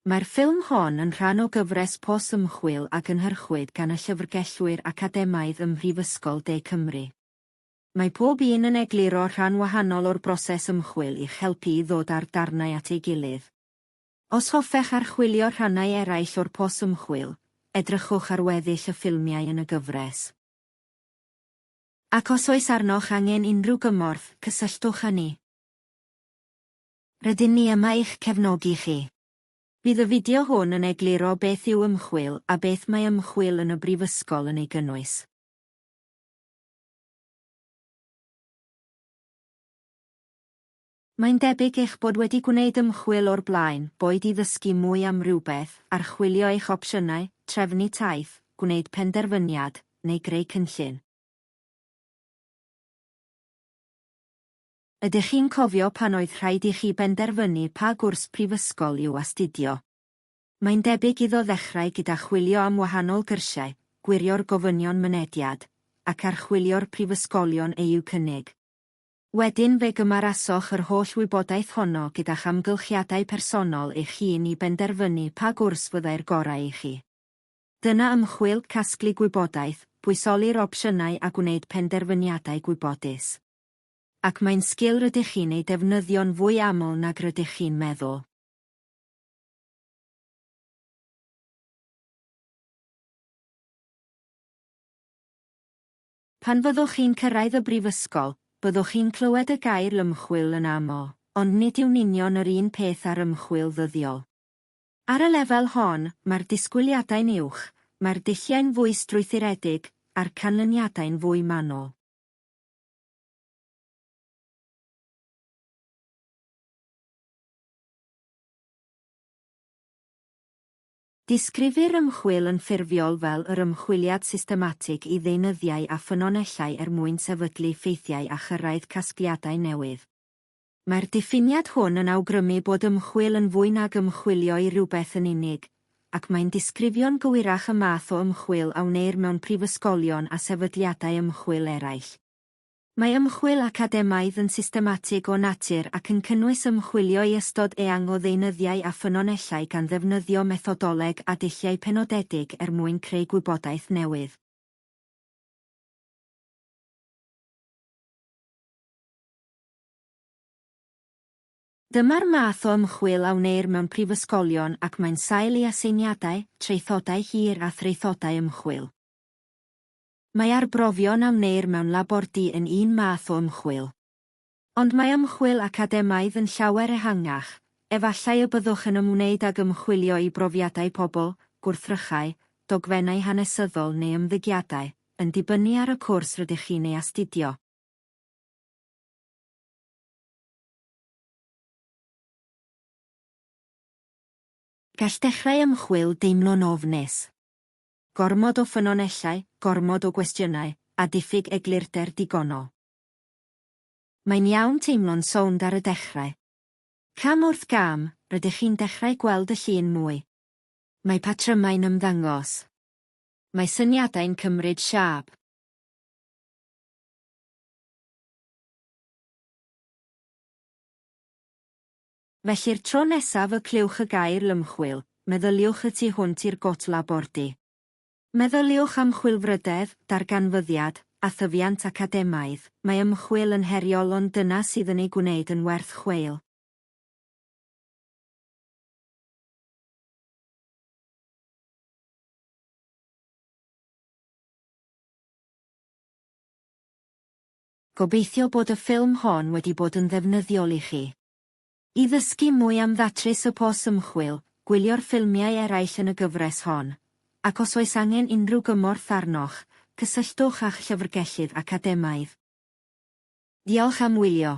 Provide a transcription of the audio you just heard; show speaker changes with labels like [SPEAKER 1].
[SPEAKER 1] Mae'r ffilm hon yn rhan o gyfres pos ymchwil a gynhyrchwyd gan y llyfrgellwyr academaidd ym Mhrifysgol De Cymru. Mae pob un yn egluro rhan wahanol o'r broses ymchwil i'ch helpu i ddod â'r darnau at ei gilydd. Os hoffech archwilio rhannau eraill o'r pos ymchwil, edrychwch ar weddill y ffilmiau yn y gyfres. Ac os oes arnoch angen unrhyw gymorth, cysylltwch â ni. Rydyn ni yma i'ch cefnogi chi. Bydd y fideo hwn yn egluro beth yw ymchwil a beth mae ymchwil yn y Brifysgol yn ei gynnwys. Mae'n debyg eich bod wedi gwneud ymchwil o'r blaen, boed i ddysgu mwy am rywbeth, archwilio eich opsiynau, trefnu taith, gwneud penderfyniad, neu greu cynllun. Ydych chi'n cofio pan oedd rhaid i chi benderfynu pa gwrs prifysgol i'w astudio? Mae'n debyg iddo ddechrau gyda chwilio am wahanol gyrsiau, gwirio'r gofynion mynediad, ac archwilio'r prifysgolion eu cynnig. Wedyn fe gymarasoch yr holl wybodaeth honno gyda'ch amgylchiadau personol eich hun i benderfynu pa gwrs fyddai'r gorau i chi. Dyna ymchwil, casglu gwybodaeth, pwysoli'r opsiynau a gwneud penderfyniadau gwybodus. ac mae'n sgil rydych chi'n ei defnyddio'n fwy aml nag rydych chi'n meddwl. Pan fyddwch chi'n cyrraedd y brifysgol, byddwch chi'n clywed y gair ymchwil yn aml, ond nid yw'n union yr un peth â'r ymchwil ddyddiol. Ar y lefel hon, mae'r disgwyliadau'n uwch, mae'r dulliau'n fwy strwythuredig, a'r canlyniadau'n fwy manwl. Disgrifir ymchwil yn ffurfiol fel yr ymchwiliad systematig i ddeunyddiau a ffynonellau er mwyn sefydlu ffeithiau a chyrraedd casgliadau newydd. Mae'r diffiniad hwn yn awgrymu bod ymchwil yn fwy nag ymchwilio i rywbeth yn unig, ac mae'n disgrifio'n gywirach y math o ymchwil a wneir mewn prifysgolion a sefydliadau ymchwil eraill. Mae ymchwil academaidd yn systematig o natur ac yn cynnwys ymchwilio i ystod eang o ddeunyddiau a ffynonellau gan ddefnyddio methodoleg a dulliau penodedig er mwyn creu gwybodaeth newydd. Dyma'r math o ymchwil a wneir mewn prifysgolion ac mae'n sail i aseiniadau, traethodau hir a thraethodau ymchwil. Mae arbrofion a wneir mewn labordy yn un math o ymchwil. Ond mae ymchwil academaidd yn llawer ehangach, efallai y byddwch yn ymwneud ag ymchwilio i brofiadau pobl, gwrthrychau, dogfennau hanesyddol neu ymddygiadau, yn dibynnu ar y cwrs rydych chi'n ei astudio. Gall dechrau ymchwil deimlo'n ofnus. Gormod o ffynonellau, gormod o gwestiynau, a diffyg eglurder digonol. Mae'n iawn teimlo'n sownd ar y dechrau. Cam wrth gam, rydych chi'n dechrau gweld y llun mwy. Mae patrymau'n ymddangos. Mae syniadau'n cymryd siâp. Felly'r tro nesaf y clywch y gair lymchwil, meddyliwch y tu hwnt i'r Côte Labordy. Meddyliwch am chwilfrydedd, darganfyddiad, a thyfiant academaidd, mae ymchwil yn heriol ond dyna sydd yn ei gwneud yn werth chweil. Gobeithio bod y ffilm hon wedi bod yn ddefnyddiol i chi. I ddysgu mwy am ddatrys y pos ymchwil, gwylio'r ffilmiau eraill yn y gyfres hon, ac os oes angen unrhyw gymorth arnoch, cysylltwch â'ch llyfrgellydd academaidd. Diolch am wylio.